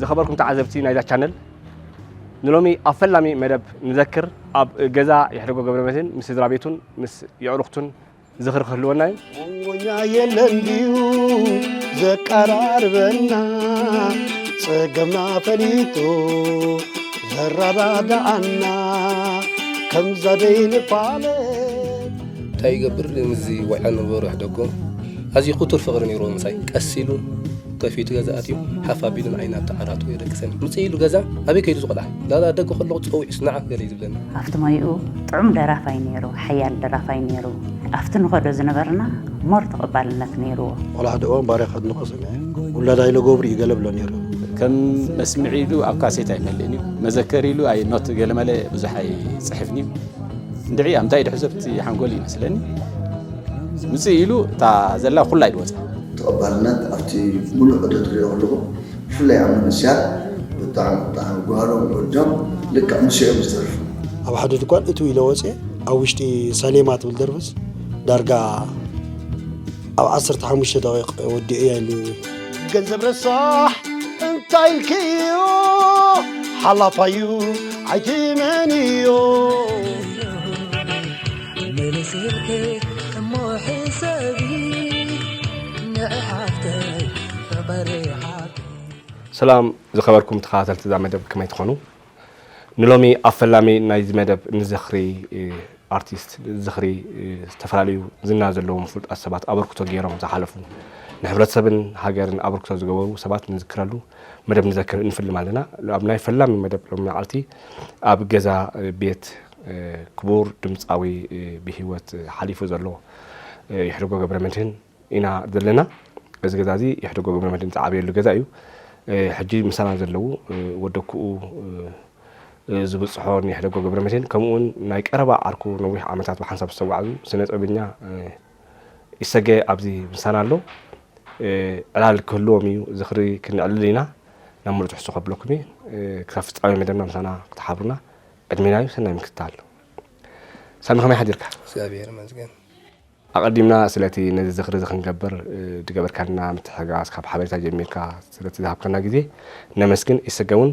ዝኸበርኩም ተዓዘብቲ ናይዛ ቻነል ንሎሚ ኣብ ፈላሚ መደብ ንዘክር ኣብ ገዛ የሕደጎ ገብረመድህን ምስ ስድራ ቤቱን ምስ የዕሩኽቱን ዝኽሪ ክህልወና እዩ። መንጎኛ የለን ድዩ ዘቀራርበና ጸገምና ፈሊጡ ዘረዳድኣና ከምዛ ደይንፋለጥ እንታይ ይገብር ምስዚ ወልዐ ንበሩ ኣሕደጎ ኣዝዩ ክቱር ፍቕሪ ነይርዎ ምሳይ ቀስ ኢሉ ከፊቱ ገዛ ኣትዩ ሓፍ ኣቢሉ ንዓይ ናብቲ ዓራቱ የደቅሰኒ። ምፅእ ኢሉ ገዛ ኣበይ ከይዱ እዚ ቆልዓ? ላላ ኣብ ደገ ከለኹ ፀዊዑስ ንዓ ገለ እዩ ዝብለኒ። ኣብቲ ሞይኡ ጥዑም ደራፋይ ነይሩ፣ ሓያል ደራፋይ ነይሩ። ኣብቲ ንኸዶ ዝነበርና ሞር ተቐባልነት ነይርዎ። ቆልዓ ደኦ ባርያ ከድንቖ ሰሚዐ። ውላዳ ኢለ ጎብር እዩ ገለ እብሎ ነይሩ። ከም መስምዒ ኢሉ ኣብ ካሴት ኣይመልእን እዩ። መዘከሪ ኢሉ ኣይ ኖት ገለመለ ብዙሕ ኣይፅሕፍን እዩ። እንድዒ ኣብ እንታይ ድሕዞ ኣብቲ ሓንጎል እዩ ይመስለኒ። ውፅእ ኢሉ እታ ዘላ ኩላ ኢሉ ወፅኣ። ተቐባልነት ኣብቲ ሙሉእ ዑደት ሪኦ ኣለኹ ብፍላይ ኣብ መንእስያት ብጣዕሚ ብጣዕሚ ጓሎም ወዶም ልክዕ ሙሴ እዮም ዝተርፉ። ኣብ ሓደ ድኳን እትው ኢለ ወፅየ ኣብ ውሽጢ ሰሌማ ትብል ደርፍስ ዳርጋ ኣብ ዓሰርተ ሓሙሽተ ደቂቕ ወዲኤያ ኢሉኒ። ገንዘብ ረሳሕ እንታይ ኢልክዮ ሓላፋዩ ኣይትመንዮ ምልስልኪ እሞ ሕሰቢ ንዕሓፍተይ ፍቕሪ ዓቢ ሰላም ዝኸበርኩም ተኸታተልቲ እዛ መደብ ከመይ ትኾኑ ንሎሚ ኣብ ፈላሚ ናይዚ መደብ ንዝኽሪ እ፣ ኣርቲስት ዝኽሪ እ፣ ዝተፈላለዩ ዝና ዘለዎም ፍሉጣት ሰባት ኣበርክቶ ገይሮም ዝሓለፉ ንሕብረተሰብን ሃገርን ኣበርክቶ ዝገበሩ ሰባት ንዝክረሉ መደብ ንዘክር ንፍልም ኣለና ኣብ ናይ ፈላሚ መደብ ሎሚ መዓልቲ ኣብ ገዛ እ፣ ቤት ክቡር ድምጻዊ ብሂወት ሓሊፉ ዘሎ የሕድጎ ገብረመድህን ኢና ዘለና። እዚ ገዛ እዚ የሕድጎ ገብረመድህን ዝዓበየሉ ገዛ እዩ። ሕጂ ምሳና ዘለዉ ወደኩኡ ዝብጽሖ የሕደጎ ገብረመድህን ከምኡውን ናይ ቀረባ ዓርኩ ነዊሕ ዓመታት ብሓንሳብ ዝተጓዕዙ ስነ ጥበበኛ ኢሰገ ኣብዚ ምሳና ኣሎ። ዕላል ክህልዎም እዩ ዝኽሪ ክነዕልል ኢና ናብ ምሉእ ትሕዝቶ ከብለኩም እየ። ክሳብ ፍጻሜ መደብና ምሳና ክትሓብሩና ዕድሜና እዩ ሰናይ ምክትታል ሳሚ ከመይ ሓዲርካ እግዚኣብሔር ይመስገን ኣቐዲምና ስለቲ ነዚ ዝኽሪ እዚ ክንገብር ዝገበርካልና ምትሕጋዝ ካብ ሓበሬታ ጀሚርካ ስለቲ ዝሃብካና ግዜ ነመስግን ኢሰገ እውን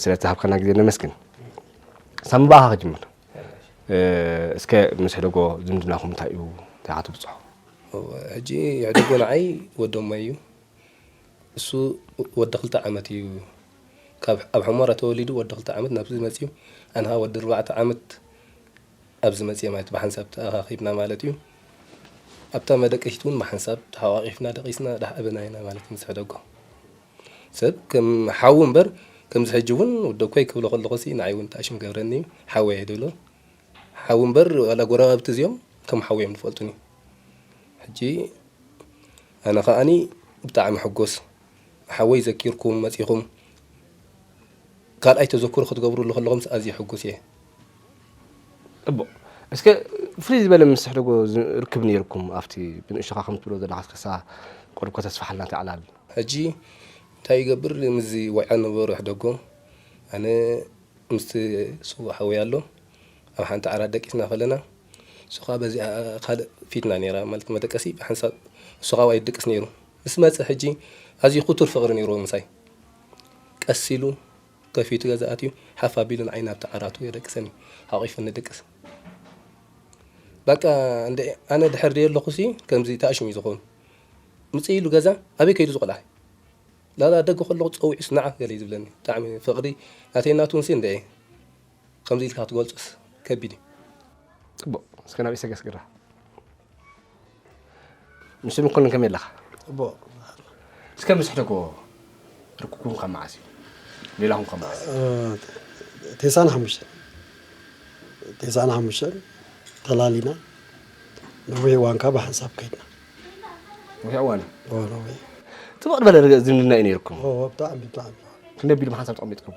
ስለቲ ዝሃብካና ግዜ ነመስግን ሳሚ ብኣኻ ክጅምር እስከ ምስ ሕደጎ ዝምድናኹም እንታይ እዩ እንታይ ኢኻ ትብፅሖ ሕጂ ሕደጎ ንዓይ ወዶሞ እዩ እሱ ወዲ ክልተ ዓመት እዩ ካብ ኣብ ሑሞራ ተወሊዱ ወዲ ክልተ ዓመት ናብዚ መጽዩ ኣንሃ ወዲ ኣርባዕተ ዓመት ኣብዚ መጽየ ማለት ብሓንሳብ ተኣኻኺብና ማለት እዩ ኣብታ መደቀሲት ውን ብሓንሳብ ተሓቛቒፍና ደቂስና ዳሕኣበና ኢና ማለት ምስ ሕደጎ ሰብ ከም ሓዉ እምበር ከምዚ ሕጂ ውን ወደኮይ ክብሎ ከለኹሲ ንዓይ ውን ተኣሽም ገብረኒ እዩ ሓወይ ኣይድብሎ ሓዉ እምበር ዋላ ጎረባብቲ እዚኦም ከም ሓዉ እዮም ዝፈልጡኒ ሕጂ ኣነ ከኣኒ ብጣዕሚ ሕጎስ ሓወይ ዘኪርኩም መጺኹም ካልኣይ ተዘክሮ ክትገብርሉ ከለኹምስ ኣዝየ ሕጉስ እየ። ጽቡቅ እስከ ፍልይ ዝበለ ምስ ሕደጎ ርክብ ኔርኩም ኣብቲ ብንእሽቶኻ ከም ትብሎ ዘለኻ እስከ እሳ ቆርብኮ ተስፋሓልና እታ ዕላል። ሕጂ እንታይ ይገብር ምስዚ ወዕያ ነበሩ ሕደጎ ኣነ ምስቲ ስዉእ ሓወይ ኣሎ ኣብ ሓንቲ ዓራት ደቂስና ከለና እሱ ከኣ በዚኣ ካልእ ፊትና ኔራ ማለት መደቀሲ ብሓንሳብ እሱ ከኣ ኣብኣ እዩ ድቅስ ኔሩ ምስ መጸ ሕጂ ኣዝዩ ክቱር ፍቕሪ ነይርዎ ምሳይ። ቀስ ኢሉ ከፊቱ ገዛ ኣትዩ ሓፍ ኣቢሉ ንዓይ ናብቲ ዓራቱ የደቅሰኒ፣ ሓቒፉኒ ይድቅስ። በቃ እንድዒ ኣነ ድሕር ደየለኹሲ ከምዚ ተኣሽሙ እዩ ዝኸውን። ምጽእ ኢሉ ገዛ ኣበይ ከይዱ ዝቆልዓ ላላ ኣብ ደገ ከለኹ ጸዊዑስ ንዓ ገለ እዩ ዝብለኒ። ብጣዕሚ ፍቕሪ ናተይን ናቱንሲ እንድዒ። ከምዚ ኢልካ ክትገልጾስ ከቢድ እዩ። ጽቡቕ እስከ ናብ ኢሰገስ ግራ ንሱ ምኮንን ከመይ ኣለኻ? ጽቡቕ እስከ ምስ ሕደጎ ርክኩም ካብ መዓስ እዩ? ሌላኹም ካብ መዓስ እዩ? ቴሳን ሓሙሽተን ቴሳን ሓሙሽተን ተላሊና ነዊሕ እዋን ካብ ብሓንሳብ ከይድና ነዊሕ እዋን እዩ ጽቡቕ ዝበለ ዝምድና እዩ ነይርኩም ብጣዕሚ ብጣዕሚ ክንደይ ኣቢሉ ብሓንሳብ ተቐሚጥኩም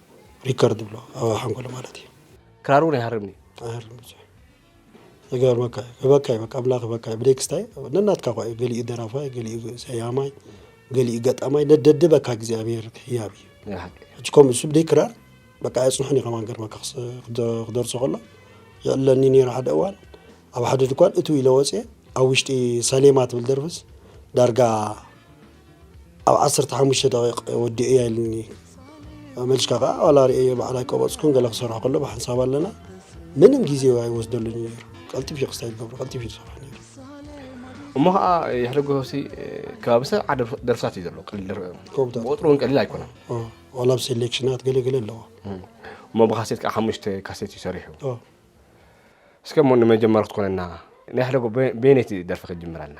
ሪከርድ ብሎ ኣብ ሓንጎለ ማለት እዩ። ክራር እውን ኣይሃርምን እዩ። ኣይሃርም ብዙሕ ይገርመካ እዩ። ክበካ እዩ በቃ ኣምላኽ ክበካ እዩ። ብደክስታይ ነናትካ ኳ እዩ ገሊኡ ደራፋይ ገሊኡ ሰያማይ ገሊኡ ገጣማይ ነደድበካ እግዚኣብሔር ህያብ እዩ። ናይ ሓቂ ሕጂ ከምኡ እሱ ብደይ ክራር በቃ ኣየፅንሑን እዩ ከማን ገርመካ ክስ- ክደ- ክደርሶ ከሎ ይዕለኒ ነይሩ ሓደ እዋን ኣብ ሓደ ድኳን እትው ኢለ ወፅየ ኣብ ውሽጢ ሰሌማ ትብል ደርፍስ ዳርጋ ኣብ ዓሰርተ ሓሙሽተ ደቂቕ ወዲኡ እያ ኢሉኒ መሊሽካ ከዓ ዋላ ርእየ በዓል ኣይቀበፅኩን ገለ ክሰርሖ ከሎ ብሓንሳብ ኣለና ምንም ግዜ ኣይወስደሉን እዩ ነይሩ ቀልጢፍ እዩ ክስታይ ዝገብሩ ቀልጢፍ እዩ ዝሰርሖ ነይሩ እሞ ከዓ የሕደጎ ሲ ከባቢ ሰብ ዓደ ደርፍታት እዩ ዘሎ ጎብታት ቁጥሩ እውን ቀሊል ኣይኮነን ኦ፣ ዋላ ኣብ ሴሌክሽናት ገለገለ ኣለዎ እሞ ብካሴት ከዓ ሓሙሽተ ካሴት እዩ ሰሪሑ ኦ፣ እስከ እሞ ንመጀመሪ ክትኮነና ናይ ሕደጎ በየነይቲ ደርፊ ክትጅምረልና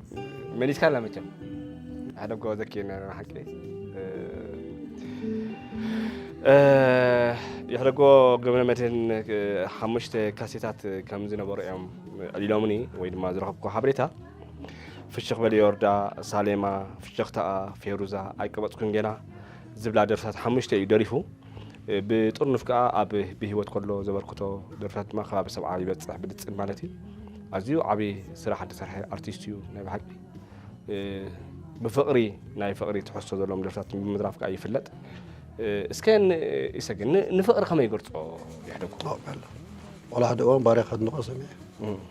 መሊስካ ኣላ መቸም ሓደ ጎ ዘኪርና ኣለና ሓቂ የሕደጎ ገብረ መድህን ሓሙሽተ ካሴታት ከም ዝነበሩ እዮም ዕሊሎምኒ ወይ ድማ ዝረኸብኩ ሓበሬታ ፍሽኽ በል ዮርዳ ሳሌማ ፍሽኽታኣ ፌሩዛ ኣይቀበፅኩን ገና ዝብላ ደርፍታት ሓሙሽተ እዩ ደሪፉ ብጥርኑፍ ከኣ ኣብ ብህይወት ከሎ ዘበርክቶ ደርፍታት ድማ ከባቢ ሰብዓ ይበጽሕ ብልጽን ማለት እዩ ኣዝዩ ዓብዪ ስራሕ ዝተሰርሐ ኣርቲስት እዩ ናይ ብሓቂ ብፍቕሪ ናይ ፍቕሪ ትሕዝቶ ዘለዎም ደርፍታት ብምድራፍ ከዓ ይፍለጥ እስከ ይሰግ ንፍቕሪ ከመይ ይገልፆ ይሕደጉ ዋላ ሓደ እዋን ባርያ ከድንቆ ሰሚዐ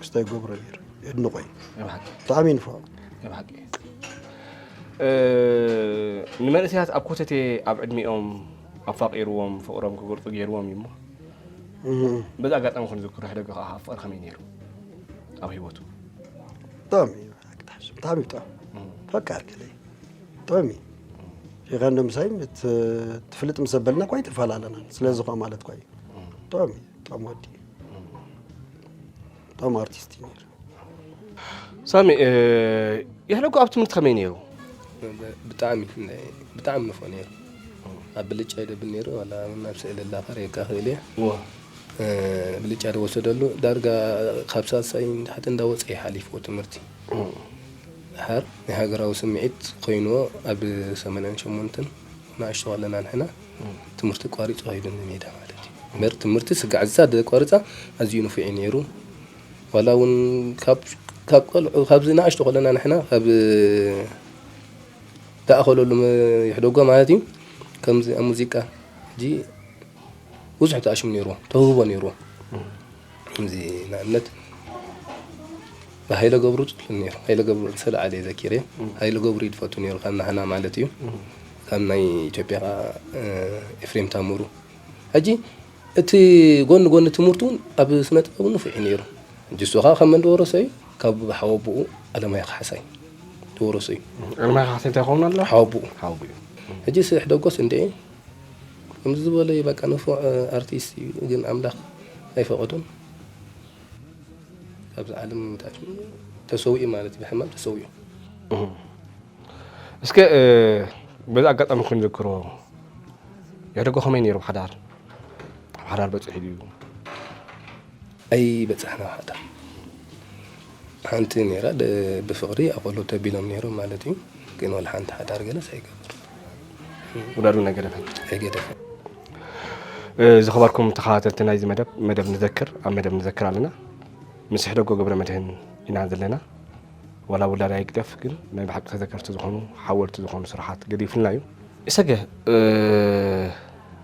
ክስታይ ገብረ ነይሩ የድንቆ እዩ ብጣዕሚ እዩ ንፍዖ ብሓቂ ንመንእሰያት ኣብ ኮተቴ ኣብ ዕድሜኦም ኣፋቂርዎም ፍቅሮም ክገልፁ ገይርዎም እዩ እሞ በዚ ኣጋጣሚ ኮን ዝክሮ ሕደገ ከዓ ፍቅሪ ከመይ ነይሩ ኣብ ሂወቱ ብጣዕሚ እዩ ብጣዕሚ ብጣዕሚ ፈቃር ገለ ብጣዕሚ ሸካ እንዶ ምሳይ ትፍልጥ ምስ ዘበልና ኳ ይተፈላለና ስለዚ ኳ ማለት ኳ እዩ ብጣዕሚ ብጣዕሚ ወዲ እዩ እቶም ኣርቲስት እዩ ነይሩ ሳሚ የሕለጎ ኣብ ትምህርቲ ከመይ ነይሩ ብጣዕሚ ብጣዕሚ ንፎ ነይሩ ኣብ ብልጫ ይደብል ነይሩ ዋላ ናብ ስእሊ ላኸር የካኽእል እየ ብልጫ ዝወሰደሉ ዳርጋ ካብ ሳልሳይ ንታሕቲ እንዳወፀ እዩ ሓሊፍዎ ትምህርቲ ሓር ናይ ሃገራዊ ስምዒት ኮይኑዎ ኣብ ሰማንያን ሸሞንተን ንኣሽቱ ከለና ንሕና ትምህርቲ ኣቋሪጹ ከይዱ ንሜዳ ማለት እዩ እምበር ትምህርቲ ስጋዕ ዝሳ ዘቋርጻ ኣዝዩ ንፉዕ እዩ ነይሩ ዋላ እውን ካብ ቆልዑ ካብዚ ንኣሽቱ ከለና ንሕና ካብ ተኣኸለሉ ይሕደጎ ማለት እዩ ከምዚ ኣብ ሙዚቃ ሕጂ ብዙሕ ተኣሽሙ ነይሩ ተውህቦ ነይሩ ከምዚ ንኣብነት ብሃይለ ገብሩ ጽሉል ነይሩ ሃይለ ገብሩ እንተ ለዓለ ዘኪረ ሃይለ ገብሩ እዩ ዝፈቱ ነይሩ ካብ ናህና ማለት እዩ ካብ ናይ ኢትዮጵያ ከዓ ኤፍሬም ታምሩ ሕጂ እቲ ጎኒ ጎኒ ትምህርቱ እውን ኣብ ስነ ጥበብ ንፉዕ እዩ ነይሩ ሕጂ እሱ ከዓ ካብ መን ዝወረሶ እዩ ካብ ሓወቦኡ ኣለማዮ ካሕሳይ ዝወረሶ እዩ ኣለማዮ ካሕሳይ እንታይ ይኸውን ኣሎ ሓወቦኡ ሓወቦኡ እዩ ሕጂ ስሕ ደጎስ እንደ ከምዚ ዝበለ እዩ በቃ ንፉዕ ኣርቲስት እዩ ግን ኣምላክ ኣይፈቀዶን ካብዚ ዓለም ታች ተሰዊኡ ማለት እዩ ብሕማም ተሰዊኡ እስከ በዚ ኣጋጣሚ ክንዝክሮ ያደጎ ከመይ ነይሩ ሓዳር ኣብ ሓዳር በፂሑ ድዩ ኣይ በጻሕና ሃታ ሓንቲ ነይራ ብፍቅሪ ኣቆሎ ተቢሎም ነይሮም ማለት እዩ ግን ወላ ሓንቲ ሓዳር ገለስ ኣይገበሩ ውዳዱ ነገደፈን ኣይገደፈን ዝኸበርኩም ተኸታተልቲ ናይዚ መደብ መደብ ንዘክር ኣብ መደብ ንዘክር ኣለና ምስ ሕደጎ ገብረ መድህን ኢና ዘለና ዋላ ውላድ ኣይግደፍ ግን ናይ ብሓቂ ተዘከርቲ ዝኾኑ ሓወልቲ ዝኾኑ ስራሓት ገዲፉልና እዩ እሰገ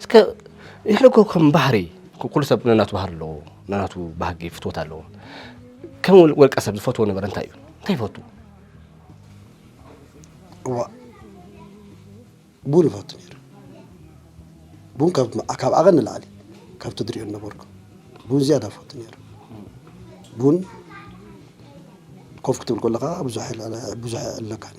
እስከ ንሕና እኮ ከም ባህሪ ኩሉ ሰብ ነናቱ ባህሪ ኣለዎ፣ ነናቱ ባህጊ ፍትወት ኣለዎ። ከም ወልቀ ሰብ ዝፈትዎ ነበረ እንታይ እዩ? እንታይ ይፈቱ? እዋ ቡን ይፈቱ ነይሩ። ቡን ካብ ካብ ዓቐን ንላዕሊ ካብ ትድሪኦ ነበርኩ ቡን ዝያዳ ይፈቱ ነይሩ። ቡን ኮፍ ክትብል ከለኻ ብዙሕ ብዙሕ ኣለካኒ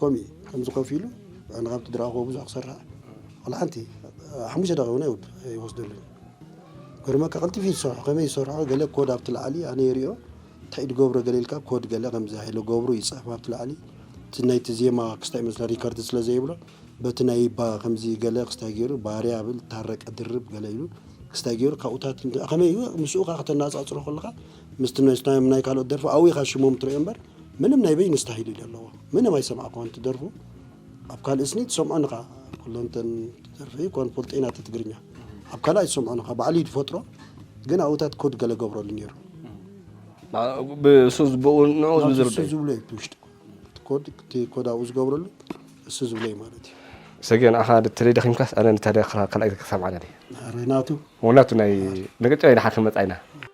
ኮሚ ከምዚ ኮፍ ኢሉ ኣነ ካብቲ ድራኹዎ ብዙሕ ክሰርሕ ዋላ ሓንቲ ሓሙሽተ ደቂቕ እውን ኣይወድ ኣይወስደሉን ገርመካ ቀልጢፉ እዩ ዝሰርሖ ከመይ ዝሰርሖ ገለ ኮድ ኣብቲ ላዕሊ ኣነ ይሪኦ እንታይ ድገብሮ ገለ ኢልካ ኮድ ገለ ከምዚ ሃይለ ገብሩ ይፅሕፍ ኣብቲ ላዕሊ እቲ ናይቲ ዜማ ክስታይ መስለ ሪከርድ ስለ ዘይብሎ በቲ ናይ ባ ከምዚ ገለ ክስታይ ገይሩ ባርያ ብል ታረቀ ድርብ ገለ ኢሉ ክስታይ ገይሩ ካብኡታት ከመይ እዩ ምስኡ ከዓ ከተነፃፅሮ ከለካ ምስቲ ናይስናዮም ናይ ካልኦት ደርፊ ኣዊኻ ሽሞም ትሪኦ እምበር ምንም ናይ በይኑ ስታሂል እዩ ለለዎ ምንም ኣይሰማዕክዎን ትደርፉ ኣብ ካልእ ስኒ ትሰምዖን እኻ ኩሎንተን ደርፊ ኮን ፖልጤና ትትግርኛ ኣብ ካልእ ኣይትሰምዖን እኻ ባዕሉ ይድፈጥሮ ግን ኣብኡታት ኮድ ገለ ገብረሉ ነይሩ ብእሱ ዝብኡ ንኡ ዝዝርደዩ ዝብሎ እዩ ትውሽጢ ኮድ ኮድ ኣብኡ ዝገብረሉ እሱ ዝብሎ እዩ ማለት እዩ ሰጊ ንኣኻ ተለይ ደኺምካስ ኣነ ንታደ ካልኣይ ክሰምዓና ናቱ ናቱ ናይ ንቅጫ ኢና ሓከ መፃኢና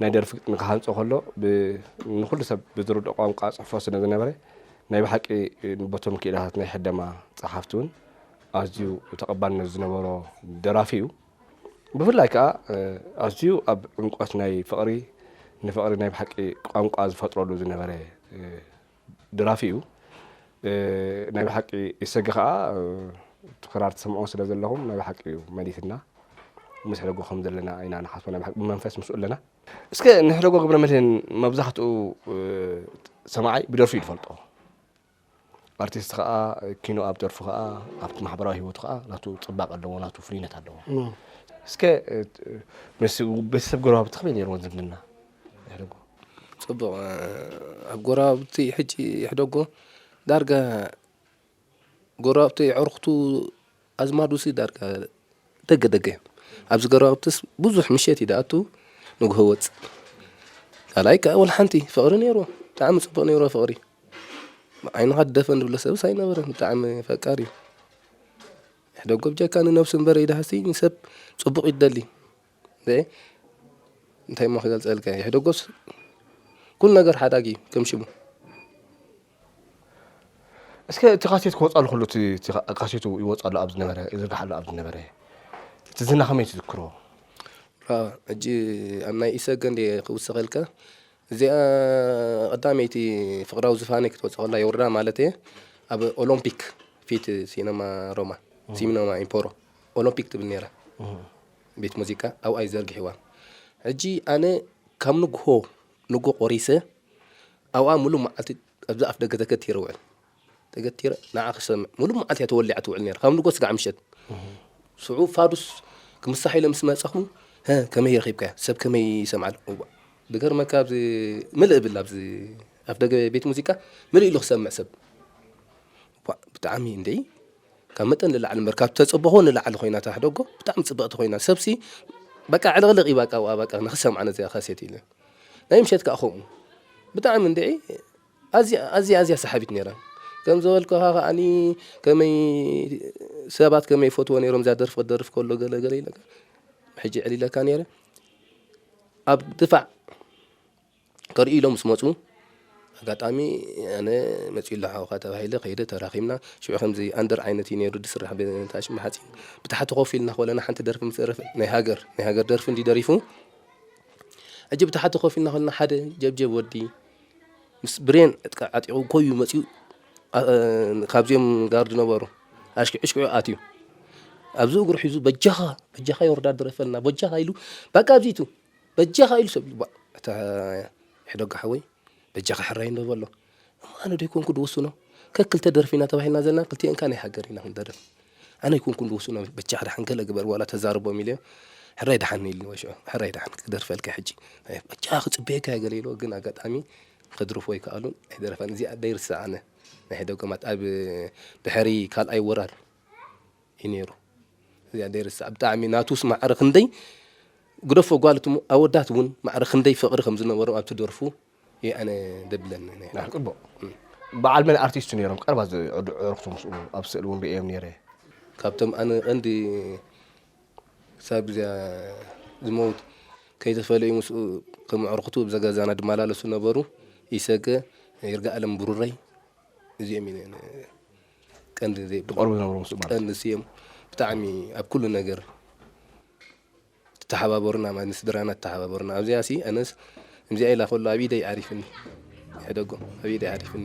ናይ ደርፊ ግጥሚ ክሃንጾ ከሎ ንኹሉ ሰብ ብዝርድኦ ቋንቋ ጽሕፎ ስለ ዝነበረ ናይ ብሓቂ በቶም ክኢላታት ናይ ሕደማ ጸሓፍቲ እውን ኣዝዩ ተቐባልነት ዝነበሮ ደራፊ እዩ ብፍላይ ከዓ ኣዝዩ ኣብ ዕምቆት ናይ ፍቕሪ ንፍቕሪ ናይ ብሓቂ ቋንቋ ዝፈጥረሉ ዝነበረ ደራፊ እዩ ናይ ብሓቂ ኢሰገ ከኣ እቲ ክራር ትሰምዑ ስለ ዘለኹም ናይ ብሓቂ እዩ መሊስና ንሕደጎ ከም ዘለና ኢና ንሓስቦ ናይ ብሓቂ ብመንፈስ ምስኡ ኣለና እስከ ንሕደጎ ግብረ መድህን መብዛሕትኡ ሰማዓይ ብደርፉ እዩ ዝፈልጦ ኣርቲስት ከዓ ኪኖ ኣብ ደርፉ ከዓ ኣብቲ ማሕበራዊ ህይወቱ ከዓ ናቱ ፅባቀ ኣለዎ ናቱ ፍሉይነት ኣለዎ እስከ ምስ ቤተሰብ ጎረባብቲ ከመይ ነይርዎ ዝምድና የሕደጎ ጽቡቕ ኣብ ጎረባብቲ ሕጂ የሕደጎ ዳርጋ ጎረባብቲ የዕሩኽቱ ኣዝማዱሲ ዳርጋ ደገ ደገ እዮም። ኣብዚ ጎረባብትስ ብዙሕ ምሸት እዩ ዝኣቱ ንግሆ ይወጽእ። ካልኣይ ከኣ ወላ ሓንቲ ፍቕሪ ነይሩ ብጣዕሚ ጽቡቕ ነይሩ ፍቕሪ ዓይንኻ ትደፈን ዝብሎ ሰብስ ኣይነበረን ብጣዕሚ ፈቃር እዩ። የሕደጎ ብጀካ ንነብሱ እምበር ኢልሃሲ ንሰብ ጽቡቕ እዩ ትደሊ። እንታይ እሞ ክገልፀልካ እየ ሕደጎስ ኩሉ ነገር ሓዳግ እዩ ከም ሽሙ እስከ እቲ ካሴት ክወፃሉ ከሎ ካሴቱ ይወፃሉ ኣብ ዝነበረ ይዝርግሓሉ ኣብ ዝነበረ እቲ ዝና ከመይ ትዝክሮ ሕጂ ኣብ ናይ ኢሰገ እንደ ክውስኸልካ እዚኣ ቀዳመይቲ ፍቅራዊ ዝፋነ ክትወፅ ከላ የውርዳ ማለት እየ ኣብ ኦሎምፒክ ፊት ሲነማ ሮማ ሲነማ ኢምፖሮ ኦሎምፒክ ትብል ነይራ ቤት ሙዚቃ ኣብኣይ ዘርጊሕዋ ሕጂ ኣነ ካብ ንግሆ ንግሆ ቆሪሰ ኣብኣ ምሉእ መዓልቲ ኣብዛ ኣፍ ደገ ተገቲረ ውዕል ተገቲረ ንዓ ክሰምዕ ምሉእ መዓልቲ እያ ተወሊዓ ትውዕል ነራ ካብ ንግሆ ስጋዕ ምሸት ሽዑ ፋዱስ ክምሳሕ ኢለ ምስ መፀኹ ከመይ ረኺብካያ ሰብ ከመይ ይሰምዓል ብገርመካ ኣብዚ ምልእ ብል ኣብዚ ኣፍ ደገ ቤት ሙዚቃ ምልእ ኢሉ ክሰምዕ ሰብ ብጣዕሚ እንደይ ካብ መጠን ንላዕሊ እምበር ካብ ተጽብኾ ንላዕሊ ኮይና ታሕደጎ ብጣዕሚ ጽብቕቲ ኮይና ሰብሲ በቃ ዕልቕልቕ ይባቃ ኣብኡ ኣባቃ ንክሰምዓ ነዚኣ ካሴት ኢለ ናይ ምሸት ከዓ ከምኡ ብጣዕሚ እንድዒ ኣዝያ ኣዝያ ኣዝያ ሰሓቢት ነይራ ከም ዝበልኩኻ ከዓኒ ከመይ ሰባት ከመይ ይፈትዎ ነይሮም እዛ ደርፊ ክደርፍ ከሎ ገለ ገለ ኢለካ ሕጂ ዕሊለካ ነይረ ኣብ ድፋዕ ከርእዩ ኢሎም ምስ መጹ ኣጋጣሚ ኣነ መጺኡ ኣሎ ሓውካ ተባሂለ ከይደ ተራኺብና ሽዑ ከምዚ ኣንደር ዓይነት እዩ ነይሩ ዝስራሕ ብታሽም ብሓጺን ብታሕቲ ኮፍ ኢልና ኮለና ሓንቲ ደርፊ ምስ ደረፈ ናይ ሃገር ናይ ሃገር ደርፊ እንዲ ደሪፉ ሕጂ ብታሕቲ ኮፍ ኢልና ኮለና ሓደ ጀብጀብ ወዲ ምስ ብሬን ዕጥቃ ዓጢቑ ኮዩ መጺኡ ካብዚኦም ጋርድ ነበሩ ኣሽኪዑ ሽኪዑ ኣትዩ ኣብዚ እግሩ ሒዙ በጃኻ በጃኻ የወርዳ ድረፈልና በጃኻ ኢሉ በቃ ኣብዚቱ በጃኻ ኢሉ ሰብ ልባእ እታ ሕደጎ ሓወይ በጃኻ ሕራይ እንዶ በሎ እሞ ኣነ ዶ ኣይኮንኩ ድውስኖ ከክልተ ደርፊ ኢና ተባሂልና ዘለና ክልቲኤን ካናይ ሃገር ኢና ክንደርፍ ኣነ ኣይኮንኩ ድውስኖ በጃ ድሓን ገለ ግበር ዋላ ተዛርቦም ኢልዮ ሕራይ ድሓን ኢልኒ ወሽዑ ሕራይ ድሓን ክደርፈልካ ሕጂ በጃ ክፅበየካ እየ ገለ ኢልዎ ግን ኣጋጣሚ ከድርፎ ኣይከኣሉን ኣይደረፋን እዚኣ ደይርስዓ ኣነ ናይ ሕደጎ ማለት ኣብ ድሕሪ ካልኣይ ወራር እዩ ነይሩ እዚኣ ዘይርስዓ ብጣዕሚ ናቱስ ማዕረ ክንደይ ግደፎ ጓል እቲ ኣወዳት እውን ማዕረ ክንደይ ፍቕሪ ከም ዝነበሮም ኣብቲ ደርፉ እዩ ኣነ ደብለን ነይረ ፅቡቕ በዓል መን ኣርቲስት ነይሮም ቀርባ ዝዕርኽቱ ምስኡ ኣብ ስእሊ እውን ርእዮም ነይረ ካብቶም ኣነ ቀንዲ ክሳብ እዚያ ዝመውት ከይተፈለዩ ምስኡ ከም ኣዕርኽቱ እዛ ገዛና ድመላለሱ ነበሩ ይሰገ ይርጋኣለም ብሩረይ እዚኦም እዩ ቀንዲ ዘይ ትቀርቡ ዝነበሩ ምስ ማለት ቀንዲ ስዮም ብጣዕሚ ኣብ ኩሉ ነገር ተሓባበሩና ማለት ንስድራና ተሓባበሩና ኣብዚኣ ሲ ኣነስ እምዚኣ ኢላ ከሎ ኣብ ኢደይ ዓሪፍኒ ሕደጎ ኣብ ኢደይ ዓሪፍኒ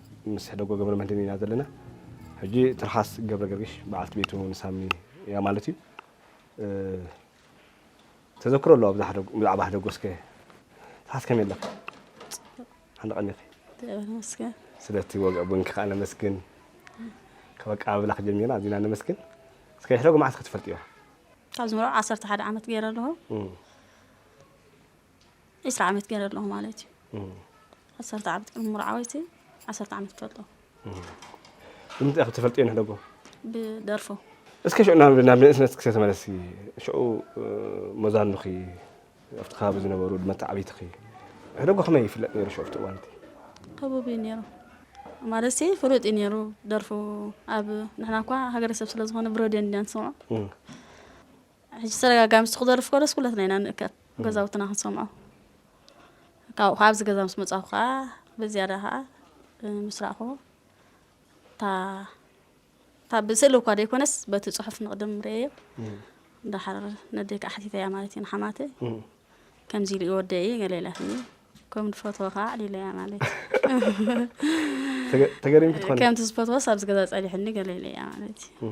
ምስ ሕደጎ ገብረመድህን ኢና ዘለና። ሕጂ ትርሓስ ገብረገርግሽ በዓልቲ ቤቱ ንሳሚ እያ ማለት እዩ። ተዘክሮ ኣለዋ ብዛዕባ ሕደጎ እስከ ትርሓስ ከመይ ኣለኺ? ሓንደ ቀኒኺ? እግዚኣብሔር ይመስገን። ስለቲ ወግዒ ቡንኪ ከዓ ነመስግን። ካብ ኣቀባብላኺ ጀሚርና ኣዚና ነመስግን። እስከ ሕደጎ መዓስ ኢኺ ትፈልጥዮ? ካብ ዝመርዖ ዓሰርተ ሓደ ዓመት ገይረ ኣለኹ። ዒስራ ዓመት ገረ ኣለኹ ማለት እዩ ዓሰርተ ዓመት ቅድሚ ሙርዓወይቲ ዓሰርተ ዓመት ከለኹ ብምንታይ ኢኹ ተፈልጥዮ ንሕደጎ ብደርፎ እስከ ሽዑ ናብ ናብ ንእስነት ክሰ ተመለሲ ሽዑ መዛኑኺ ኣብቲ ከባቢ ዝነበሩ መተዓቢትኺ ሕደጎ ከመይ ይፍለጥ ነይሩ ሽዑ ኣብቲ እዋን እቲ ህቡብ እዩ ነይሩ ማለት ሲ ፍሉጥ እዩ ነይሩ ደርፉ ኣብ ንሕና እኳ ሃገረሰብ ስለ ዝኾነ ብረድዮ እንዲያ ንስምዖ ሕጂ ተደጋጋሚ ንሱ ክደርፍ ከሎስ ኩላትና ኢና ንእከብ ገዛውትና ክንሰምዖ ካብኡ ከዓ ኣብዚ ገዛ ምስ መጻኹ ከዓ ብዝያዳ ከዓ ምስ ራእኹ እታ እታ ብስእሊ እኳ ዘይኮነስ በቲ ጽሑፍ ንቕድም ርእየዮ ድሓር ነደይ ከዓ ሓቲተያ ማለት እዩ ንሓማተይ ከምዚ ኢሉ እዩ ወደይ ገለ ኢላትኒ ከም ዝፈትዎ ከዓ ኣዕሊለያ ማለት እዩ ተገሪምኪ ትኾኒ ከምቲ ዝፈትዎስ ኣብዚ ገዛ ጸኒሑኒ ገለ ኢለያ ማለት እዩ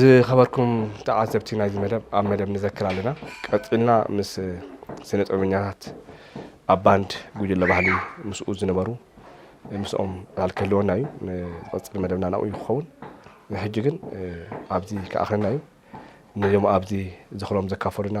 ዝኸበርኩም ተዓዘብቲ ናይዚ መደብ ኣብ መደብ ንዘክር ኣለና ቀጺልና ምስ ስነ ጥበበኛታት ኣብ ባንድ ጉጅለ ባህሊ ምስኡ ዝነበሩ ምስኦም ቃል ክህልወና እዩ ንቐጽል መደብና ናብኡ እዩ ክኸውን ንሕጂ ግን ኣብዚ ክኣኽለና እዩ ነዞም ኣብዚ ዝኽሮም ዘካፈሉና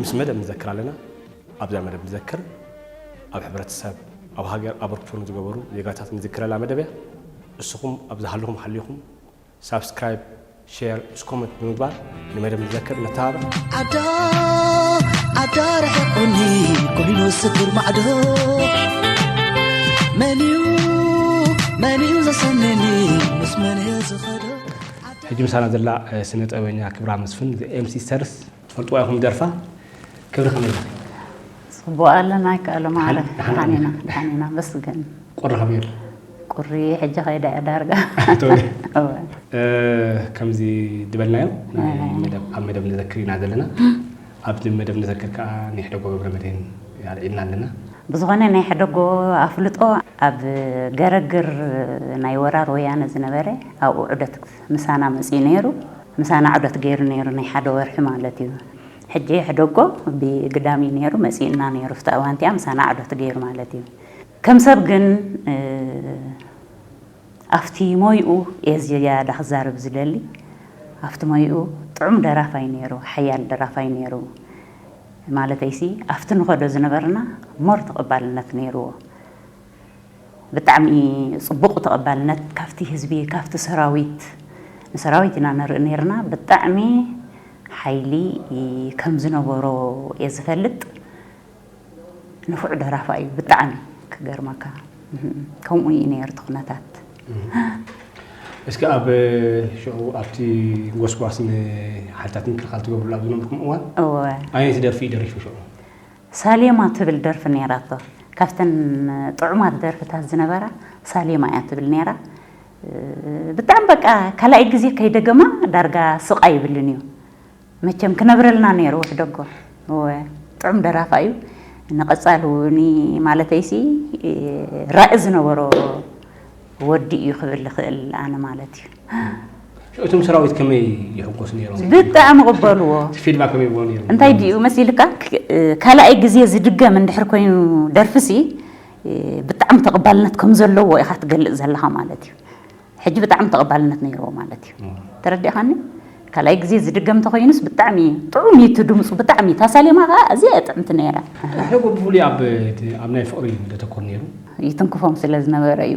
ምስ መደብ ንዘክር ኣለና። ኣብዛ መደብ ንዘክር ኣብ ሕብረተሰብ ኣብ ሃገር ኣበርክቶ ንዝገበሩ ዜጋታት ንዝክረላ መደብ እያ። እስኹም ኣብ ዝሃለኹም ሃሊኹም ሳብስክራይብ ሼር ምስ ኮመንት ብምግባር ንመደብ ንዘክር ነተባብዕ። ኣዶ ኣዶ ርሕቁኒ ኮይኑ ስኩር ማዕዶ መንዩ መንዩ ዘሰንየኒ ምስ መንየ ዝኸዶ ሕጂ ምሳና ዘላ ስነ ጥበበኛ ክብራ መስፍን ኤምሲስተርስ ትፈልጥዋ ኢኹም ደርፋ ክብሪ ከመይ ጽቡቅ ኣለና ኣይከኣሎ ማዕረ ደሓን ኢና ደሓን ኢና መስገን ቁሪ ከመይ ኣሎ ቁሪ ሕጂ ከይዳ እያ ዳርጋ ከምዚ ዝበልናዮ ኣብ መደብ ንዘክር ኢና ዘለና ኣብዚ መደብ ንዘክር ከዓ ናይ ሕደጎ ገብረመድህን ኣልዒልና ኣለና ብዝኾነ ናይ ሕደጎ ኣፍልጦ ኣብ ገረግር ናይ ወራር ወያነ ዝነበረ ኣብኡ ዑደት ምሳና መፅኡ ነይሩ ምሳና ዑደት ገይሩ ነይሩ ናይ ሓደ ወርሒ ማለት እዩ ሕጂ የሕደጎ ብግዳም እዩ ነይሩ መጺኡና ነይሩ ኣብታ እዋን እቲኣ ምሳና ዑደት ገይሩ ማለት እዩ ከም ሰብ ግን ኣብቲ ሞይኡ እየ ዝያዳ ክዛረብ ዝደሊ ኣብቲ ሞይኡ ጥዑም ደራፋይ ነይሩ ሓያል ደራፋይ ነይሩ ማለተይሲ ኣብቲ ንኸዶ ዝነበርና ሞር ተቐባልነት ነይርዎ ብጣዕሚ ጽቡቅ ተቀባልነት ካብቲ ህዝቢ ካብቲ ሰራዊት ንሰራዊት ኢና ንርኢ ኔርና ብጣዕሚ ሓይሊ ከምዝነበሮ እየ ዝፈልጥ ንፉዕ ደራፋ እዩ ብጣዕሚ ክገርመካ ከምኡ እዩ ኔሩ እቲ ኩነታት እስኪ ኣብ ሽዑ ኣብቲ ጎስጓስ ንሓይልታት ምክልኻል ትገብርሉ ኣብ ዝነበርኩም እዋን ኣየነይቲ ደርፊ እዩ ደሪፉ ሽዑ? ሳሌማ ትብል ደርፊ ኔራቶ ካብተን ጥዑማት ደርፍታት ዝነበራ ሳሌማ ኢያ ትብል ኔራ ብጣዕሚ በቃ ካላኣይ ግዜ ከይደገማ ዳርጋ ስቅ ኣይብልን ኢዩ መቸም ክነብረልና ኔሩ ውሕደጎ እወ ጥዑም ደራፋይ ኢዩ ንቀጻሊ እዉኒ ማለተይሲ ራኢ ዝነበሮ ወዲ ኢዩ ክብል ልክእል ኣነ ማለት ኢዩ። እቶም ሰራዊት ከመይ ይሕጎሱ ነይሮም? ብጣዕሚ ቅበልዎ። ፊድማ ከመይ ይብሎ ነይሩ? እንታይ ድዩ መሲልካ ካልኣይ ግዜ ዝድገም እንድሕር ኮይኑ ደርፍሲ ብጣዕሚ ተቐባልነት ከም ዘለዎ ኢኻ ትገልጽ ዘለኻ ማለት እዩ። ሕጂ ብጣዕሚ ተቐባልነት ነይርዎ ማለት እዩ። ተረዲእኻኒ? ካልኣይ ግዜ ዝድገም ተኮይኑስ ብጣዕሚ ጥዑም እዩ እቲ ድምፁ ብጣዕሚ እታ ሳሌማ ከኣ ኣዝያ እያ ጥዕምቲ ነይራ። ሓደ እኮ ብፍሉይ ኣብ እቲ ኣብ ናይ ፍቕሪ እዩ ዘተኩር ነይሩ። ይትንክፎም ስለ ዝነበረ እዩ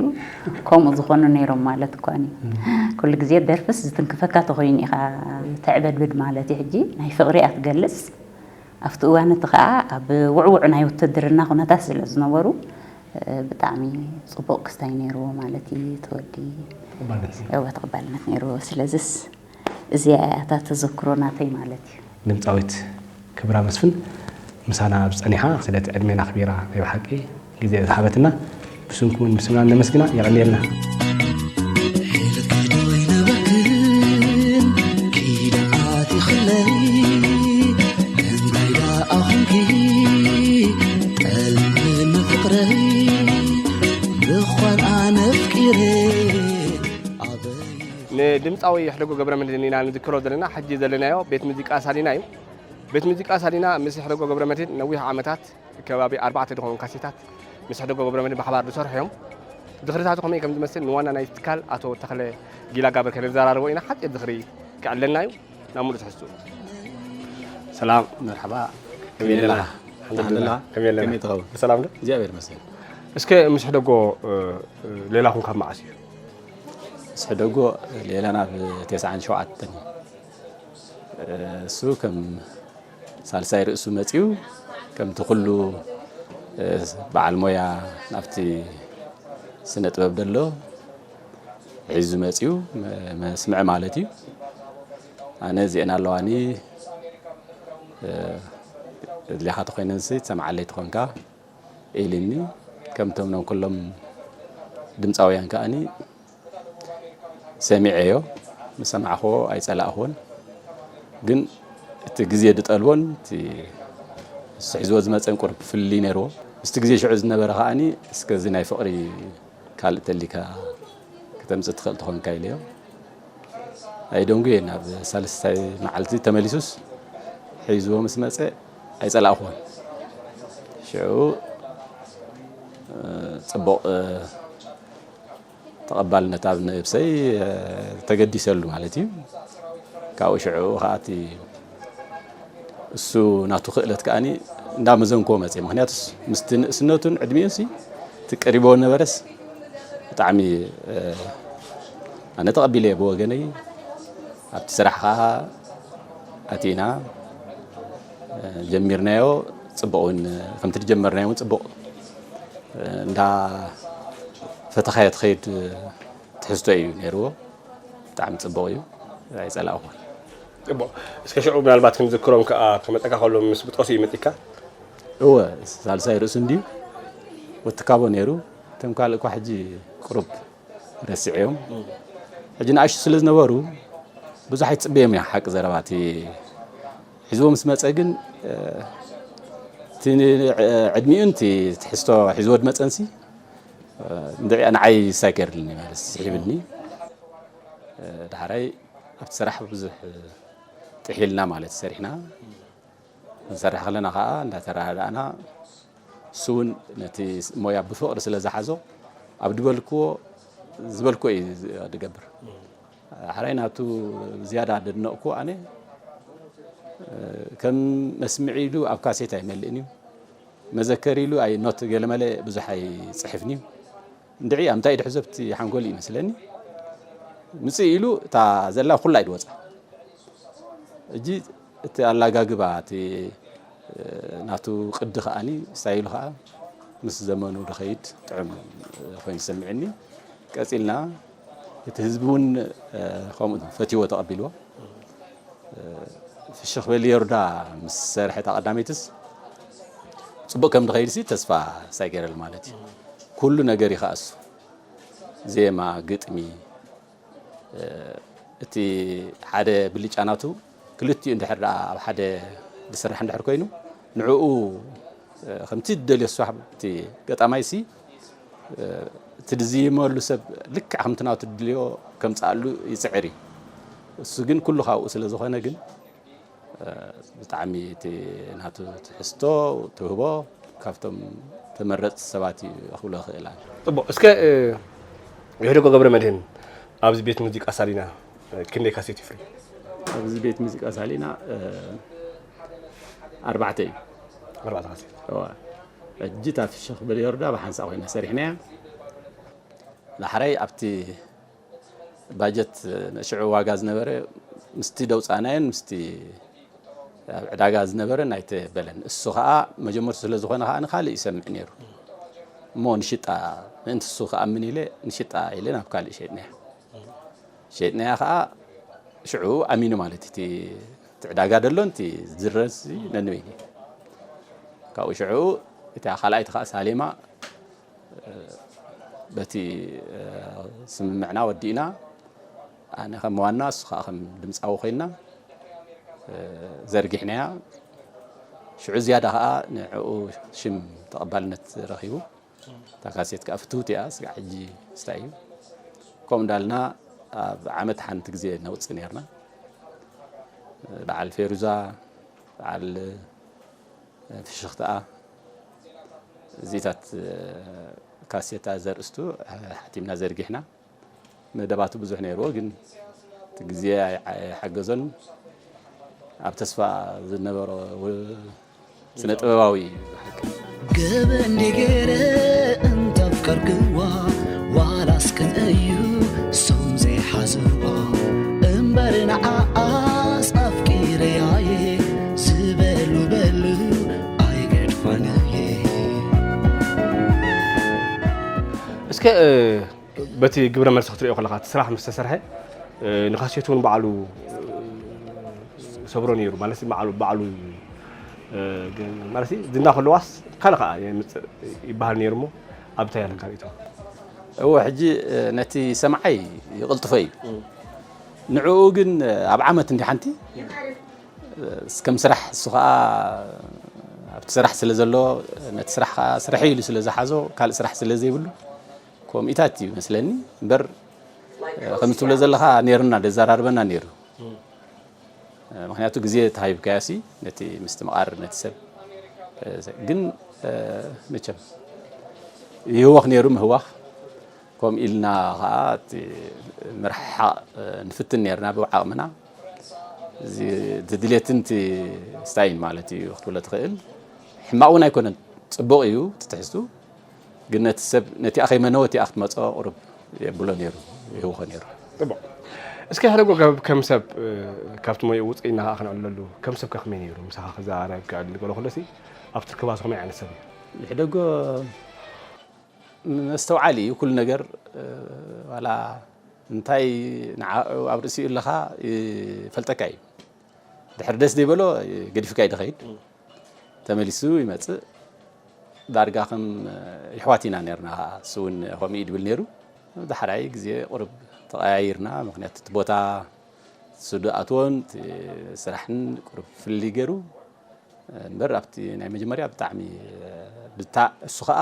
ከምኡ ዝኾኑ ነይሮም ማለት እኳ እዩ። ኩሉ ግዜ ደርፍስ ዝትንክፈካ ተኾይኑ ኢኻ ተዕበድብድ ማለት እዩ ሕጂ ናይ ፍቕሪ እያ ትገልጽ። ኣብቲ እዋን እቲ ከኣ ኣብ ውዕዉዕ ናይ ውትድርና ኩነታት ስለ ዝነበሩ ብጣዕሚ ጽቡቕ ክስታይ ነይርዎ ማለት እዩ እቲ ወዲ እወ ተቐባልነት ነይርዎ ስለዝስ እዚኣ እያ እታ ተዘክሮ ናተይ ማለት እዩ። ድምጻዊት ክብራ መስፍን ምሳና ኣብዚ ጸኒሓ ስለቲ ዕድሜን ኣኽቢራ ናይ ብሓቂ። ግዜ ዝሃበትና ብስምኩምን ብስምናን ነመስግና። የቐንየልና። ንድምጻዊ ይሕደጎ ገብረመድህን ኢና ንዝክሮ ዘለና። ሕጂ ዘለናዮ ቤት ሙዚቃ ሳሊና እዩ። ቤት ሙዚቃ ሳሊና ምስ ይሕደጎ ገብረመድህን ነዊሕ ዓመታት ከባቢ ኣርባዕተ ድኾኑ ካሴታት ምስ ሕደጎ ገብረመድህን ብሓባር ዝሰርሑ እዮም። ዝኽርታቱ ከመይ ከም ዝመስል ንዋና ናይቲ ትካል ኣቶ ተኽለ ጊላጋብር ከነዘራርቦ ኢና። ሓጺር ዝኽሪ ክዕለና እዩ። ናብ ምሉእ ትሕዝትኡ። ሰላም መርሓባ ከመይ ኣለና? ኣልሓምዱሊላህ ከመይ ኣለና? ከመይ ትኸውን? ብሰላም ዶ? እግዚኣብሔር ይመስገን። እስከ ምስ ሕደጎ ሌላኹም ካብ መዓስ እዩ? ምስ ሕደጎ ሌላና ብ97 እዩ። እሱ ከም ሳልሳይ ርእሱ መጺኡ ከምቲ ኩሉ በዓል ሞያ ናብቲ ስነ ጥበብ ደሎ ሒዙ መጺኡ መስምዕ ማለት እዩ ኣነ እዚኤን ኣለዋኒ እድሌኻ ተኾይነንሲ ትሰምዓለይ ትኾንካ ኢልኒ ከምቶም ኖም ኩሎም ድምፃውያን ከኣኒ ሰሚዐዮ ምስ ሰማዕክዎ ኣይጸላእክዎን ግን እቲ ግዜ ዝጠልቦን እቲ ንሱ ሒዝዎ ዝመጸን ቁርብ ፍልልይ ነይርዎ ምስቲ ግዜ ሽዑ ዝነበረ ከዓኒ እስከ እዚ ናይ ፍቕሪ ካልእ ተሊካ ክተምጽእ ትኽእል ትኾንካ ኢለዮ ኣይደንጉየን ኣብ ሳልስታይ መዓልቲ ተመሊሱስ ሒዝዎ ምስ መጸ ኣይጸላእኽዎን ሽዑ ጽቡቕ ተቐባልነት ኣብ ነብሰይ ተገዲሰሉ ማለት እዩ። ካብኡ ሽዕኡ ከዓ እቲ እሱ ናቱ ክእለት ከዓ እንዳመዘንክዎ መፅየ። ምክንያቱስ ምስቲ ንእስነቱን ዕድሚኡን ሲ እቲ ቀሪቦ ነበረስ ብጣዕሚ ኣነ ተቐቢለየ ብወገነይ ኣብቲ ስራሕ ከዓ ኣቲና ጀሚርናዮ ፅቡቕ እውን ከምቲ ዝጀመርናዮ እውን ፅቡቕ እንዳ ፈተኻዮ ትኸይድ ትሕዝቶ እዩ ነይርዎ ብጣዕሚ ጽቡቕ እዩ ኣይጸላእኹን እቦ እስከ ሽዑ ምናልባት ክንዝክሮም ከኣ ክመጸካ ከሎ ምስ ብጦስ እዩ መጺካ እወ ሳልሳይ ርእሱ እንድዩ ወትካቦ ነይሩ እቶም ካልእ እኳ ሕጂ ቅሩብ ረሲዐዮም ሕጂ ንኣሽቱ ስለ ዝነበሩ ብዙሕ ኣይትጽበዮም እያ ሓቂ ዘረባ እቲ ሒዝዎ ምስ መጸ ግን እቲ ዕድሚኡን እቲ ትሕዝቶ ሒዝዎ ድመጸንሲ እንድዒ ንዓይ ሳይ ገይርልኒ ማለት ስሒብኒ ዳሕራይ ኣብቲ ስራሕ ብዙሕ ጥሒልና ማለት ሰሪሕና ንሰርሕ ከለና ከዓ እንዳተረዳእና እሱ እውን ነቲ ሞያ ብፍቕሪ ስለ ዝሓዞ ኣብ ድበልክዎ ዝበልክዎ እዩ ድገብር ሐራይ ናቱ ዝያዳ ደድነቕኩዎ ኣነ ከም መስምዒ ኢሉ ኣብ ካሴት ኣይመልእን እዩ መዘከሪ ኢሉ ኣይ ኖት ገለመለ ብዙሕ ኣይፅሕፍን እዩ እንድዒ ኣብ እንታይ ድሕዘብቲ ሓንጎል ይመስለኒ ምፅእ ኢሉ እታ ዘላ ኩላ ኢድ ወፃ እጂ እቲ ኣላጋግባ እቲ ናቱ ቅዲ ከዓኒ ስታይሉ ከዓ ምስ ዘመኑ ድኸይድ ጥዑም ኮይኑ ዝሰምዕኒ ቀፂልና እቲ ህዝቢ እውን ከምኡ እዩ ፈትዩዎ ተቐቢልዎ። ፍሽኽ በሊ የሩዳ ምስ ሰርሐ እታ ቀዳመይትስ ፅቡቕ ከም ድኸይድሲ ተስፋ ሳይ ገይረሉ ማለት እዩ። ኩሉ ነገር እዩ ከዓ እሱ ዜማ፣ ግጥሚ እቲ ሓደ ብልጫ ናቱ ክልቲኡ እንድሕር ደኣ ኣብ ሓደ ዝስራሕ እንድሕር ኮይኑ ንዕኡ ከምቲ ዝደልዮ ስራሕ እቲ ገጣማይሲ እቲ ዝዝይመሉ ሰብ ልክዕ ከምቲ ናቱ ዝድልዮ ከምጽኣሉ ይጽዕር እዩ እሱ ግን ኩሉ ካብኡ ስለ ዝኾነ ግን ብጣዕሚ እቲ ናቱ ትሕዝቶ ትህቦ ካብቶም ተመረጽቲ ሰባት እዩ ክብሎ ክእላ ጽቡቅ እስከ የሕደጎ ገብረ መድህን ኣብዚ ቤት ሙዚቃ ሳሊና ክንደይ ካሴት ይፍሪ? ኣብዚ ቤት ሙዚቃ ሳሊና ኣርባዕተ እዩ ኣርባዕተ ካሴት ሕጂ እታ ፍሽኽ ብል ዮርዳ ብሓንሳ ኮይና ሰሪሕናያ ዳሕራይ ኣብቲ ባጀት ሽዑ ዋጋ ዝነበረ ምስቲ ደውፃእናዮን ምስቲ ኣብ ዕዳጋ ዝነበረን ኣይተበለን እሱ ከዓ መጀመርቱ ስለ ዝኾነ ከዓ ንካልእ ይሰምዕ ነይሩ እሞ ንሽጣ ምእንቲ እሱ ክኣምን ኢለ ንሽጣ ኢለ ናብ ካልእ ሸጥናያ ሸይጥናያ ከኣ ሽዑ ኣሚኑ ማለት እቲ እቲ ዕዳጋ ደሎን እቲ ዝድረስ ነንበይኑ ካብኡ ሽዑ እታ ካልኣይቲ ከዓ ሳሌማ በቲ ስምምዕና ወዲእና ኣነ ከም ዋና እሱ ከዓ ከም ድምፃዊ ኮይና ዘርጊሕናያ ሽዑ ዝያዳ ከዓ ንዕኡ ሽም ተቐባልነት ረኺቡ እታ ካሴት ከዓ ፍትውቲ እያ ስጋዕ ሕጂ ስታይ እዩ ከምኡ እንዳልና ኣብ ዓመት ሓንቲ ግዜ ነውፅእ ነርና በዓል ፌሩዛ በዓል ፍሽኽትኣ እዚታት ካሴታ ዘርእስቱ ሓቲምና ዘርጊሕና መደባቱ ብዙሕ ነይርዎ ግን እቲ ግዜ ኣይሓገዞን ኣብ ተስፋ ዝነበሮ ስነ ጥበባዊ እዩ ብሓቂ ገበ እንዴ ገይረ እንተፍቀርክዋ ዋላስ ክንእዩ ሶም ዘይሓዝዋ እምበር ንዓኣስ ኣፍቂረያየ ዝበሉ በሉ ኣይገድፋንየ እስከ በቲ ግብረ መልሲ ክትሪኦ ከለካ እቲ ስራሕ ምስ ተሰርሐ ንካሴት እውን ባዕሉ ሰብሮ ነይሩ ማለት ባዕሉ ባዕሉ ማለት ዝና ከለዋስ ካልእ ከዓ የምፅእ ይበሃል ነይሩ እሞ ኣብ እንታይ ኣለካ ርእቶ እወ ሕጂ ነቲ ሰምዓይ ይቕልጥፎ እዩ ንዕኡ ግን ኣብ ዓመት እንዲ ሓንቲ ከም ስራሕ ንሱ ከኣ ኣብቲ ስራሕ ስለ ዘሎ ነቲ ስራሕ ከኣ ስርሐይ ኢሉ ስለ ዝሓዞ ካልእ ስራሕ ስለ ዘይብሉ ኮሚኢታት እዩ መስለኒ እምበር ከምዚ ትብሎ ዘለኻ ነይርና ደዘራርበና ነይሩ ምክንያቱ ግዜ ተሃይብካዮሲ ነቲ ምስትምቓር ነቲ ሰብ ግን መቸም ይህወኽ ነይሩ ምህዋኽ ከምኡ ኢልና ከዓ ምርሕሓቕ ንፍትን ነርና ብዓቕምና እዚ እቲ ድሌትን እቲ ስታይን ማለት እዩ ክትብሎ ትኽእል። ሕማቕ እውን ኣይኮነን ጽቡቕ እዩ እቲ ትሕዝቱ ግን ነቲ ሰብ ነቲኣ ከይመነወ እቲኣ ክትመጾ ቁሩብ የብሎ ነይሩ ይህውኾ ነይሩ። ጽቡቕ እስከ ሓደ ጎገብ ከም ሰብ ካብቲ ሞይኡ ውጽእ ኢልና ከኣ ክንዕለሉ ከም ሰብ ከ ከመይ ነይሩ ምሳኻ ክዘራረብ ክዕልል ገለ ከሎሲ ኣብቲ ክባሱ ከመይ ዓይነት ሰብ እዩ? ይሕደጎ መስተውዓሊ እዩ ኩሉ ነገር ዋላ እንታይ ንዓዑ ኣብ ርእሲኡ ኣለኻ ይፈልጠካ ኢዩ ድሕሪ ደስ ዘይበሎ ገዲፍካ ኢዩ ድኸይድ ተመሊሱ ይመጽእ ዳርጋ ከም ይሕዋት ኢና ነርና እሱ ውን ከምኡ ኢዩ ድብል ነሩ ዳሕራይ ግዜ ቁሩብ ተቐያይርና ምኽንያቱ እቲ ቦታ እሱ ድኣትዎን እቲ ስራሕን ቁሩብ ፍልልይ ገሩ እምበር ኣብቲ ናይ መጀመርያ ብጣዕሚ ብታ እሱ ከኣ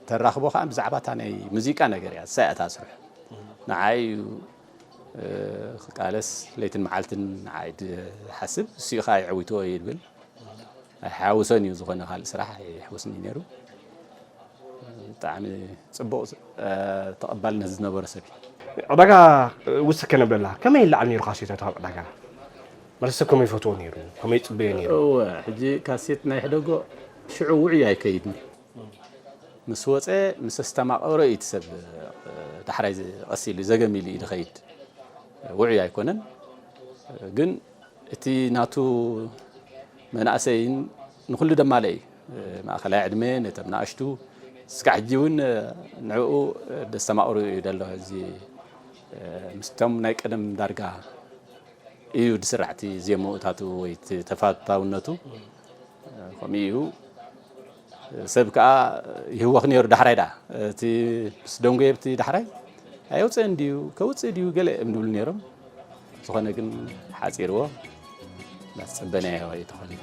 ተራኽቦ ከኣ ብዛዕባ እታ ናይ ሙዚቃ ነገር እያ እሳ እያ እታ ስርሑ ንዓይ እዩ ክቃለስ ለይትን መዓልትን ንዓይ ድሓስብ እሱ እዩ ከኣ የዕዊትዎ እዩ ድብል ኣይሓውሶን እዩ ዝኾነ ካልእ ስራሕ ኣይሕውስኒ ነይሩ ብጣዕሚ ጽቡቕ ተቐባልነት ዝነበሮ ሰብ እዩ ዕዳጋ ውስኪ ከነብለላ ከመይ ይለዓል ነይሩ ካሴታት ኣብ ዕዳጋ መልሰ ከመይ ይፈትዎ ነይሩ ከመይ ይጽበዮ ነይሩ። እወ ሕጂ ካሴት ናይ ሕደጎ ሽዑ ውዑይ ኣይከይድን ምስ ወጸ ምስ ኣስተማቐሮ እዩ እቲ ሰብ ዳሕራይ ቀስ ኢሉ ዘገም ኢሉ እዩ ዝኸይድ ውዑይ ኣይኮነን ግን እቲ ናቱ መናእሰይን ንኹሉ ደማለ እዩ ማእኸላይ ዕድመ ነቶም ናእሽቱ እስካዕ ሕጂ እውን ንዕኡ ደስተማቕሩ እዩ ደሎ እዚ ምስቶም ናይ ቀደም ዳርጋ እዩ ድስራሕ እቲ ዜምኡታቱ ወይ እቲ ተፋታውነቱ ከምኡ እዩ ሰብ ከዓ ይህወኽ ነይሩ ዳሕራይ ደኣ እቲ ምስ ደንጎየ ብቲ ዳሕራይ ኣየውፅእን ድዩ ከውፅእ ድዩ ገለ እዮም ዝብሉ ነይሮም ዝኾነ ግን ሓፂርዎ ናስፅበናዮ እዩ ተኾኒፉ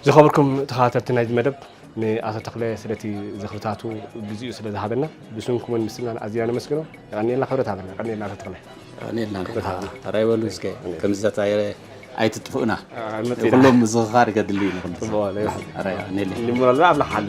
ዝኸበርኩም ተኸታተልቲ ናይዚ መደብ ንኣቶ ተኽለ ስለቲ ዝኽርታቱ ግዚኡ ስለ ዝሃበና ብስንኩምን ምስናን ኣዝና ነመስግኖ። የቐንየልና ክብረት ሃበና። የቐንየልና ኣቶ ተኽለ። የቐንየልና ክብረት ሃበና። ተራ ይበሉ እስከ ከምዝታት ኣይትጥፍኡና ኩሎም ምዝኽኻር ከድሊ እዩ ንኹሉ። ጽቡቕ ይኹን። የቐንየልና። ኣምላኽ ይሓሉ።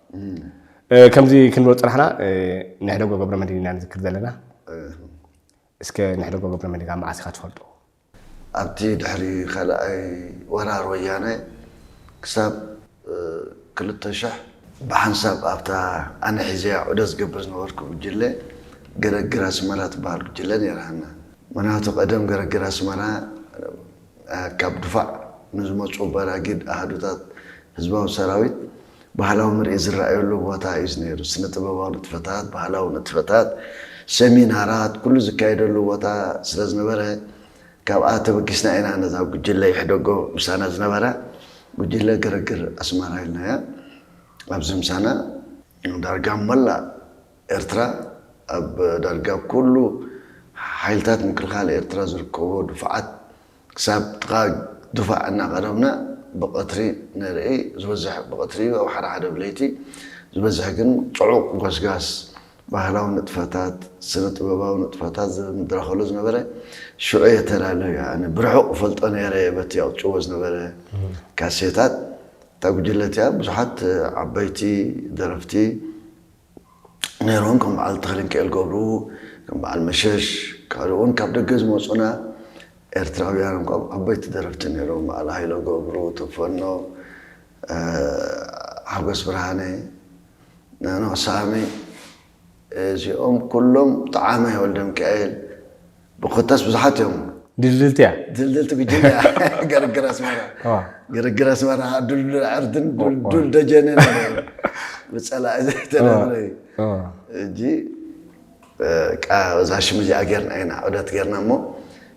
ከምዚ ክንብል ፅናሕና ንሕደጎ ገብረመድህን ኢና ንዝክር ዘለና እስከ ንሕደጎ ገብረመድህን ካብ መዓስ ኢኻ ትፈልጦ? ኣብቲ ድሕሪ ካልኣይ ወራር ወያነ ክሳብ ክልተ ሽሕ ብሓንሳብ ኣብታ ኣነ ሒዘያ ዑደት ዝገብር ዝነበርኩ ጉጅለ ገረግር ኣስመራ ትበሃል ጉጅለ ነይራትና። ምኽንያቱ ቀደም ገረግር ኣስመራ ካብ ድፋዕ ንዝመፁ በራጊድ ኣሃዱታት ህዝባዊ ሰራዊት ባህላዊ ምርኢት ዝረኣየሉ ቦታ እዩ ነይሩ። ስነ ጥበባዊ ንጥፈታት፣ ባህላዊ ንጥፈታት፣ ሰሚናራት ኩሉ ዝካየደሉ ቦታ ስለዝነበረ ካብኣ ተበጊስና ኢና ነዛ ጉጅለ ይሕደጎ ምሳና ዝነበረ ጉጅለ ግርግር ኣስመራ ኢልናያ። ኣብዚ ምሳና ዳርጋ መላእ ኤርትራ ኣብ ዳርጋ ኩሉ ሓይልታት ምክልኻል ኤርትራ ዝርከብዎ ድፋዓት ክሳብ ጥቓ ድፋዕ እናቐረብና ብቐትሪ ንርኢ፣ ዝበዝሕ ብቐትሪ እዩ፣ ኣብ ሓደ ሓደ ብለይቲ ዝበዝሕ ግን ጽዑቕ ጎስጋስ ባህላዊ ንጥፈታት፣ ስነ ጥበባዊ ንጥፈታት ዝድረኸሉ ዝነበረ ሽዑ እየ ተላልዩ ኣነ ብርሑቕ እፈልጦ ነይረ በቲ የቕጭዎ ዝነበረ ካሴታት እታ ጉጅለ እቲኣ ብዙሓት ዓበይቲ ደረፍቲ ነይሮም ከም በዓል ተኽልንኪኤል ገብሩ ከም በዓል መሸሽ ካልእ ውን ካብ ደገ ዝመጹና ኤርትራውያን እኳ ዓበይቲ ደረፍቲ ነይሮም በዓል ሃይለ ገብሩ ተፈኖ ሓጎስ ብርሃነ ኖኖ ሳሚ እዚኦም ኩሎም ጠዓመ ወልደምኪኤል ኮታስ ብዙሓት እዮም ድልድልቲ እያ ድልድልቲ ጉጅለ እያ ግርግር ኣስመራ እዋ። ግርግር ኣስመራ ከዓ ዱልዱል ዕርድን ዱልዱል ደጀንን ብፀላኢ ዘይተደብረ እዩ እዋ። እጂ ቃ እዛ ሽም እዚኣ ጌርና ኢና ዑደት ጌርና እሞ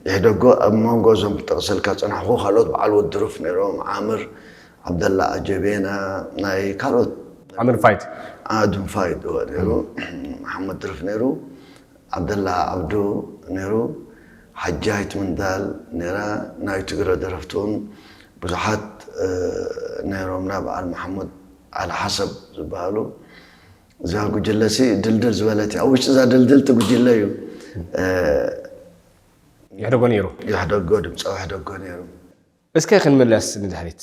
ይሕደጎ ኣብ መንጎ እዞም ጠቕሰልካ ፀናሕኹ ካልኦት በዓል ወድሩፍ ነይሮም ዓምር ዓብደላ ኣጀቤና ናይ ካልኦት ዓምር ፋይት ኣድም ፋይድ እዎ ነይሩ መሓመድ ድርፍ ነይሩ ዓብደላ ዓብዱ ነይሩ ሓጃይት ምንዳል ነይራ ናይ ትግረ ደረፍቲ ውን ብዙሓት ነይሮምና በዓል መሓሙድ ዓሊ ሓሰብ ዝበሃሉ እዛ ጉጅለ ሲ ድልድል ዝበለት እያ ኣብ ውሽጢ እዛ ድልድልቲ ጉጅለ እዩ የሕደጎ ነይሩ የሕደጎ ድምፃዊ የሕደጎ ነይሩ እስከ ክንምለስ ንድሕሪት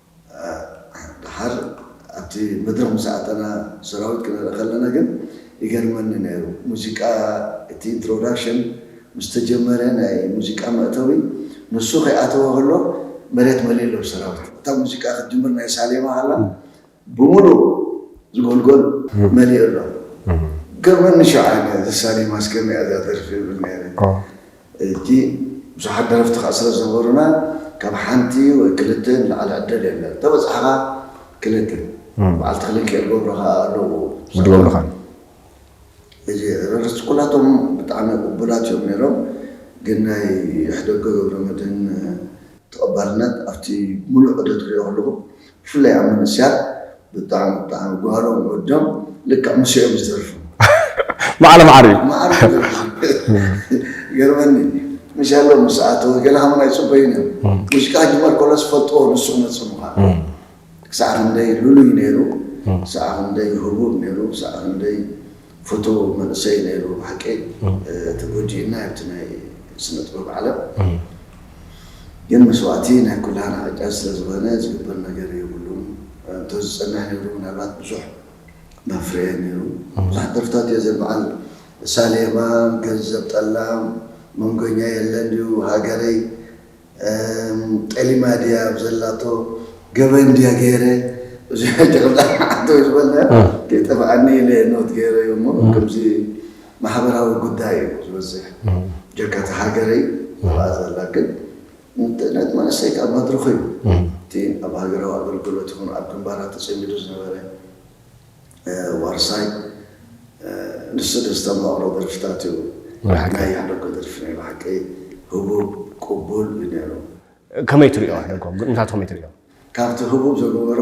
ደሓር ኣብቲ መድረኽ ምስ ኣተና ሰራዊት ክንርኢ ከለና ግን ይገርመኒ ነይሩ ሙዚቃ እቲ ኢንትሮዳክሽን ምስ ተጀመረ ናይ ሙዚቃ መእተዊ ንሱ ከይኣተወ ከሎ መሬት መሊኡ ኣሎ ብሰራዊት እታ ሙዚቃ ክትጅምር ናይ ሳሌማ ከላ ብምሉእ ዝጎልጎል መሊኡ ኣሎ ገርመኒ ሸውዓይ እዚ ሳሌማስ ከመይ እያ እዛ ደርፊ ይብል ነይረ እቲ ብዙሓት ደረፍቲ ከኣ ስለ ዝነበሩና ካብ ሓንቲ ወይ ክልተ ንላዕሊ ዕድል የለን ተበጻሕኻ ክልተ በዓልቲ ክልንኪ እገብሩ ከኣ ኣለዉ ዝገብሩኻ እዚ ረርስ ኩላቶም ብጣዕሚ ቅቡላት እዮም ነይሮም ግን ናይ ይሕደጎ ገብረመድህን ተቐባልነት ኣብቲ ምሉእ ዑደት ክሪኦ ከለኹ ብፍላይ ኣብ መንእሰያት ብጣዕሚ ብጣዕሚ ጓህሮም ወዶም ልክዕ ምስ እዮም ዝተርፉ ማዕረ ማዕረ እዩ ማዕረ ገርመኒ ምሻሎ ምስ ኣተወ ገለ ሃሙን ኣይፅበዩን እዮም ሙዚቃ ክጅመር ከሎ ዝፈልጥዎ ንሱ ክመፅእ ምዃኑ ክሳዕ ክንደይ ልሉይ ነይሩ ክሳዕ ክንደይ ህቡብ ነይሩ ክሳዕ ክንደይ ፍቱው መንእሰይ ነይሩ ብሓቂ ተጎጂእና ኣብቲ ናይ ስነጥበብ ዓለም ግን መስዋእቲ ናይ ኩላህና ዕጫ ስለዝኮነ ዝግበር ነገር የብሉን እንተዝጸንሕ ነይሩ ምናልባት ብዙሕ መፍረየ ነይሩ ብዙሓት ደርፍታት እየ ዘንብዓል ሳሌማን ገንዘብ ጠላም መንጎኛ የለን ድዩ ሃገረይ ጠሊማ ድያ ኣብ ዘላቶ ገበን ድያ ገይረ እዚ ሕጂ ከምዛ ሓቶ ዝበልናዮ ከይጠፍኣኒ ኢለ ኖት ገይረዮ እሞ ከምዚ ማሕበራዊ ጉዳይ እዩ ዝበዝሕ ጀካ እቲ ሃገረይ ኣብኣ ዘላ ግን ንጥዕነት መንእሰይ ካብ መድርኹ እዩ እቲ ኣብ ሃገራዊ ኣገልግሎት ይኹን ኣብ ግንባራት ተጸሚዱ ዝነበረ ዋርሳይ ንሱ ዘስተማቕሮ ደርፍታት እዩ ናይ ያሕለጎ ደርፊ ናይ ብሓቂ ህቡብ ቁቡል እዩ ነይሩ። ከመይ ትሪኦ ያሕለጎ ግጥምታቱ ከመይ ትሪኦ? ካብቲ ህቡብ ዘገበሮ